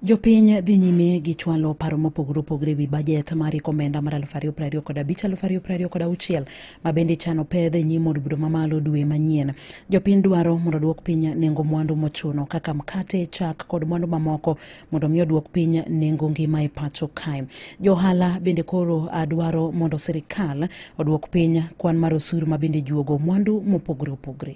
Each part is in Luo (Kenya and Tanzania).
Jopiny dhi nyime gi chwalo paro mopogore opogore wi bajet mar iko omenda mar aluf ariyo piero ariyo kod abich aluf ariyo piero ariyo kod auchiel ma bende chano pedh e nyim od bura mamalo dwe manyien. Jopiny dwaro mondo oduok piny nengo mwandu mochuno kaka mkate, chak kod mwandu mamoko mondo mi oduok piny nengo ngima e pacho kae. Johala bende koro dwaro mondo sirikal oduok piny kwan mar osuru ma bende juogo mwandu mopogore opogore.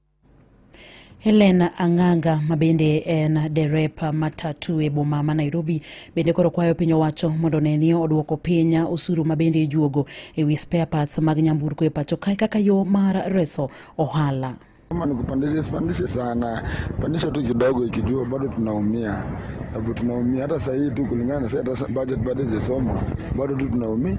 Helen Ang'anga ma bende en derepa matatu e boma ma Nairobi bende koro kwayo piny owacho mondo ne ni oduoko piny osuru ma bende ijuogo e wi spare parts mag nyamburko e pacho kae kaka yo mar reso ohala. Kama ni kupandisha sipandishe sana, pandisha tu kidogo, ikijua bado tunaumia, sababu tunaumia hata sahii tu kulingana na sasa, hata budget bado ijasoma, bado tu tunaumia.